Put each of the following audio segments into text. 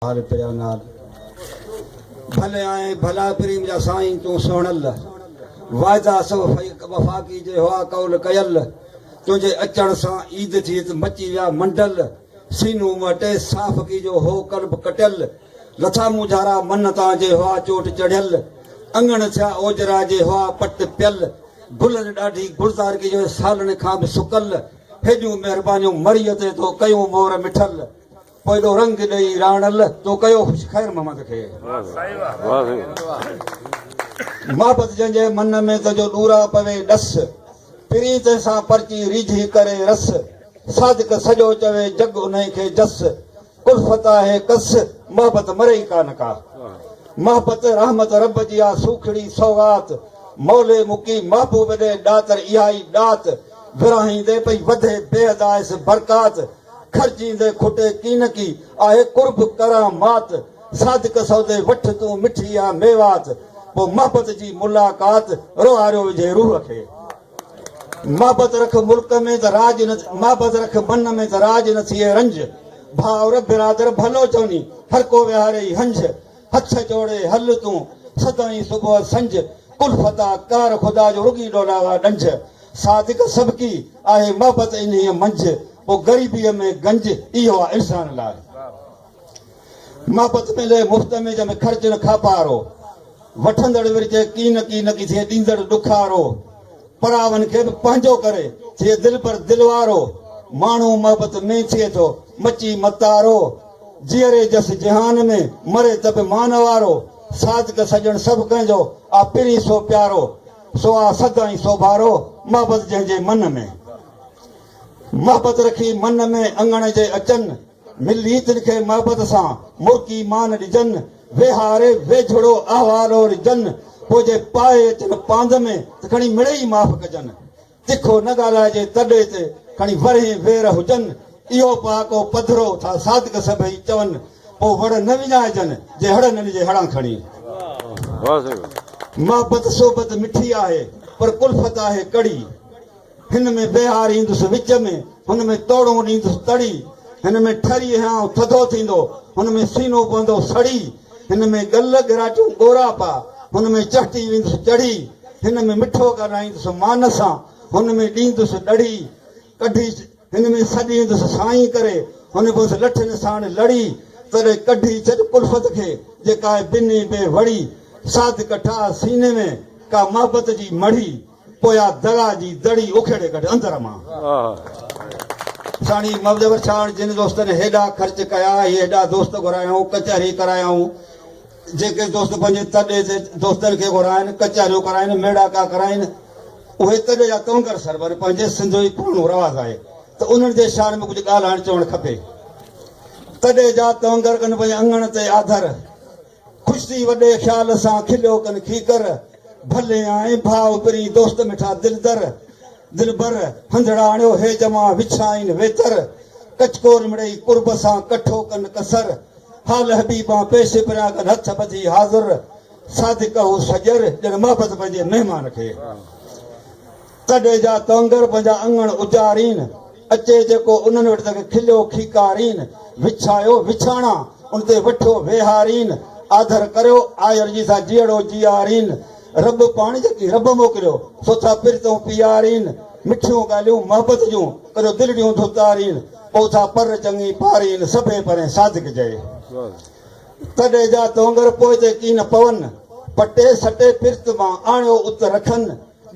ها رپيا نال ڀلي آهين ڀلا پريم جا سائين تون سهڻل واعدا سو وفا ڪيجي هئا قول ڪيل تنهنجي اچڻ سان عيد ٿي ته مچي ويا منڊل سينو مهٽي صاف ڪيجو هو قلب ڪٽيل لٿا مونجهارا من تان جي هئا چوٽ چڙهيل اڱڻ ٿيا اوجرا جي هئا پٽ پيل گلن ڏاڍي گلزار ڪيجو سالن کان به سڪل هيڏيون مهربانيون مريء تي تو ڪيون مور مٺل پوء ڏو رنگ ڏئي راڻل تو ڪيو خوش خير محمد کي. واھ سائين واھ. محبت جنهن جي من ۾ تنهن جو ڏورا پوي ڏس. پرين تنهن سان پرچي ريجهي ڪري رس. صادق سڄو چوي جڳ انهي کي جس. الفت آهي ڪس محبت مري ئي ڪا نه ڪا. محبت رحمت رب جي آ سوکڙي سوغات. مولي مڪي محبوب ڏي ڏاتر اها ئي ڏات. ورهائيندي پئي وڌي بيحد آيس برڪات. کرجيندي کٽي ڪين ڪي آهي قرب ڪران مات صادق سودي وٺ تون مٺي آ ميوات پوء محبت جي ملاقات روهاريو وجهي روح کي محبت رک ملڪ ۾ ته راڄ نه محبت رک من ۾ ته راڄ نه ٿئي رنج ڀائر برادر ڀلو چوني هر ڪو وهاري ئي هنج هٿ جوڙي هل تون سدائين صبح سنج ڪل فدا ڪار خدا جو رڳي ڏولاوا ڏنج صادق سبڪي آهي محبت انهيء منجھ پوء غريبيء ۾ گنج اهو آ انسان لاء محبت ملي مفت ۾ جنهن ۾ خرچ نه کاپارو وٺندڙ ورجي ڪي نه ڪي نه ڪي ٿئي ڏيندڙ ڏکارو پراون کي به پنهنجو ڪري ٿئي دل پر دل وارو ماڻهو محبت ۾ ٿئي ٿو مچي متارو جيئري جس جهان ۾، مري ته به مان نوارو. صادق سڄڻ سڀ ڪنهن جو، آ پرين سو پيارو. سو آ سڌ ۽ سوڀارو، محبت جنهن جي من ۾. محبت رکي من ۾، اڱڻ جي اچن. ملي تن کي محبت سان، مرڪي مان ڏجن. ويهاري ويجهڙو احوال او رجن. پوء جي پائي اچن پاند ۾، ته کڻي مڙئي معاف ڪجن. تکو نه ڳالهائجي تڏي تي کڻي ورهين وير هجن اهو پهاڪو پڌرو ٿا صادق سڀئي چون پوء وڙ نه وڃائجن جي هڙ نه ڏجي هڙان کڻي. محبت صحبت مٺي آهي پر ڪلفت آهي ڪڙي هن ۾ بهار ايندس وچ ۾ هن ۾ توڙون ڏيندس تڙي هن ۾ ٺري هيانء ٿڌو ٿيندو هن ۾ سينو پوندو سڙي هن ۾ ڳل ڳراٽيون ڳورا پا، هن ۾ چهٽي ويندس چڙهي، هن ۾ مٺو ڳالهائيندس مان سان، هن ۾ ڏيندس ڏڙهي ڪڍي، هن ۾ سڏيندس سائين ڪري، هن پويس لٺين ساڻ لڙي، تڏهن ڪڍي ڇڏ ڪلفت کي، جيڪا آهي بنهي بي وڙي، ساڌڪ ٺاهه سيني ۾، ڪا محبت جي مڙهي. پويا درا جي دڙي اکيڙي ڪڍ اندر مان. ساڻي مبدور ڇاڙ جن دوستن هيڏا خرچ ڪيا هي هيڏا دوست گهرايائون ڪچهري ڪرايائون جيڪي دوست پنهنجي تڏي جي دوستن کي گهرائن ڪچهريون ڪرائن ميڙاڪا ڪرائن اهي تڏي جا تونگر سربر پنهنجي سنڌ جو پراڻو رواز آهي ته انهن جي شان ۾ ڪجهه ڳالهائڻ چوڻ کپي تڏي جا تونگر ڪن پنهنجي اڱڻ تي آڌر خوش ٿي وڏي خيال سان کليو ڪن کيڪر، ڀلي آئين ڀاء پرين دوست مٺا دلدر، دلبر، هنڌڙاڻيو هي جوان وڇائين ويتر، ڪچ ڪور مڙئي قرب سان ڪٺو ڪن ڪسر، حال حبيبان پيش پريان ڪن هٿ ٻڌي حاضر، صادق هو سڄر ڄڻ محبت پنهنجي مهمان کي. ڪڏهن جا ڪونگر پنهنجا اڱڻ اجارين، اچي جيڪو انهن وٽ تنکي کليو کيڪارين، وڇايو وڇاڻا ان تي وٺيو ويهارين، آڌر ڪريو آير جي سان جيئڙو جيارين، رب پاڻي جيڪي رب موڪليو سو ٿا پرتون پيارين، مٺيون ڳالهيون محبت جون ڪريو دلڙيون ڌتارين، پوء ٿا پر چڱي پارين، سڀئي پرين صادق جئي. ڪڏهن جا ڪونگر پوئتي ڪين پون، پٽي سٽي پرت مان آڻيو ات رکن،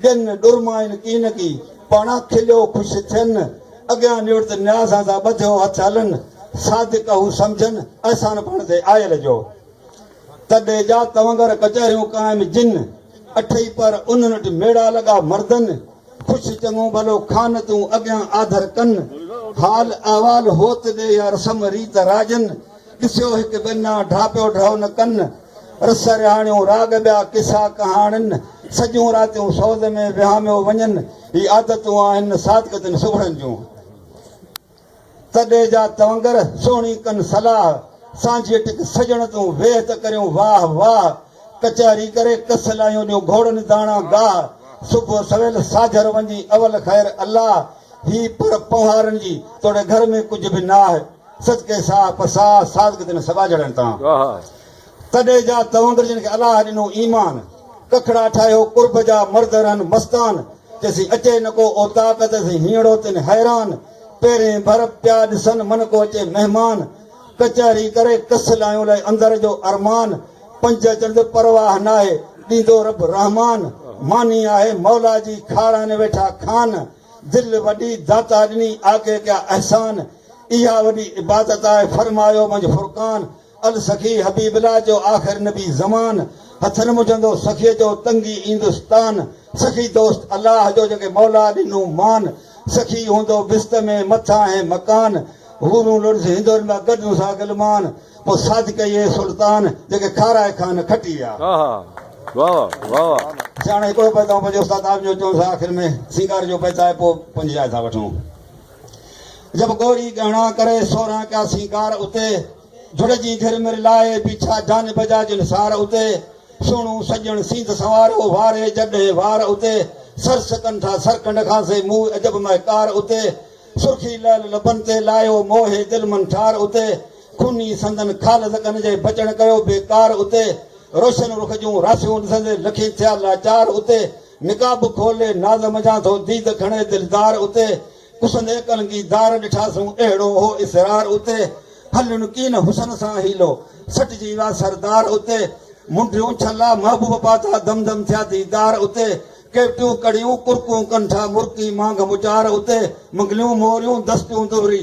ڏين ڏرمائن ڪي نه ڪي، پاڻان کليو خوش ٿين. اڳيان نوڙت نياز آزان ٻڌيو هٿ هلن. صادق اهو سمجهن احسان پاڻ تي آيل جو. تڏي جا تونگر ڪچهريون قائم جن. اٺئي پهر انهن وٽ ميڙا لڳا مردن. خوش چڱو ڀلو خان تون اڳيان آڌر ڪن. حال احوال هوت ڏي يا رسم ريت راڄن. ڏسيو هڪ ڳن آ، ڍاپيو ڍؤ نه ڪن. رس رهاڻيون، راڳ ٻيا، قصا ڪهاڻين، سڄيون راتيون سوز ۾ وهاميو وڃن، هي عادتون آهن صادق تن سگهڙن جون. ته ڏي جا تونگر، سهڻي ڪن صلاح، سانجهيء ٽڪ سڄڻ تون، ويهه ته ڪريون واهه واهه، ڪچهري ڪري ڪس لاهيون ڏيون گهوڙن داڻا گاهه، صبح سويل ساجهر وندي اول خير الله، هي پر پنهارن جي، توڙي گهر ۾ ڪجهه به ناهه. صدقي ساهه پ ساهه صادق تن سبا جهڙن تان. تڏي جا تونگر جن کي الله ڏنو ايمان. ڪکڙا ٺاهيو قرب جا مرد رهن مستان. چيسين اچي نه ڪو اوطاق ته سين هينئڙو تن حيران. پيرين ڀر پيا ڏسن من ڪو اچي مهمان. ڪچهري ڪري ڪس لايون لئي اندر جو ارمان. پنج چنڊ پرواهه ناهي ڏيندو رب رحمان. ماني آهي مولا جي کارائن ويٺا کان. دل وڏي داتا ڏني آگي ڪيا احسان. اها وڏي عبادت آهي فرمايو منجھ فرقان السخي حبيب الله جو آخر نبي زمان هٿن منجهندو سخيء جو تنگي ايندس تان سخي دوست الله جو جنکي مولا ڏنو مان سخي هوندو بست ۾ مٿاهين مڪان حورون لڙز هندن مان گڏ نسا غلمان پوء صادق اهي سلطان جنکي کارائي خان کٽي آ سياڻي هڪڙو بيت آئون پنهنجي استاد عالم جو چون سا آخر ۾ سينگار جو بيت آهي پوء پنهنجي جاء ٿا وٺون. جب ڳوري ڳهڻا ڪري سورهن ڪيا سينگار اتي جڙ جي گهر مر لائي بيٺا جان بجا جن سار اتي سهڻو سڄڻ سينڌ سنوارو واري جر ڏهين وار اتي سر سڪن ٿا سر کنڊ کان سي موء عجب مهڪار اتي سرخي لعل لبن تي لايو موهي دل من ٺار اتي خوني سندن خال زڪن جي بچڻ ڪيو بيڪار اتي روشن رخ جون راسيون ڏسندي لکين ٿيا لاچار اتي نقاب کولي ناز منجهان ٿو ديد کڻي دلدار اتي پسندي ڪلنگي دار ڏٺاسون اهڙو هو اسرار اتي هلن ڪين حسن سان حيلو سٽجي ويا سردار اتي منڊيون ڇلا محبوب پاتا دم دم ٿيا ديدار اتي ڪيوٽيون ڪڙيون ڪرڪون ڪنٺا مرڪي مانگ مچار اتي منگليون موريون دستيون دهري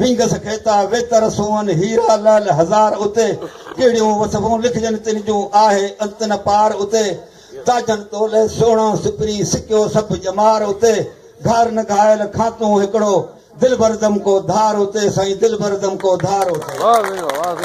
ويندس ڪيتا ويتر سونهن هيرا لعل هزار اتي ڪهڙيون وصفون لکجن تن جون آهي انت نه پار اتي تاجن تولي سهڻا سپري سڪيو سڀ ڄمار اتي گهار نه گهايل کاتون هڪڙو دلبر دمڪو ڌار اتي سائين دلبر دمڪو ڌار اتي.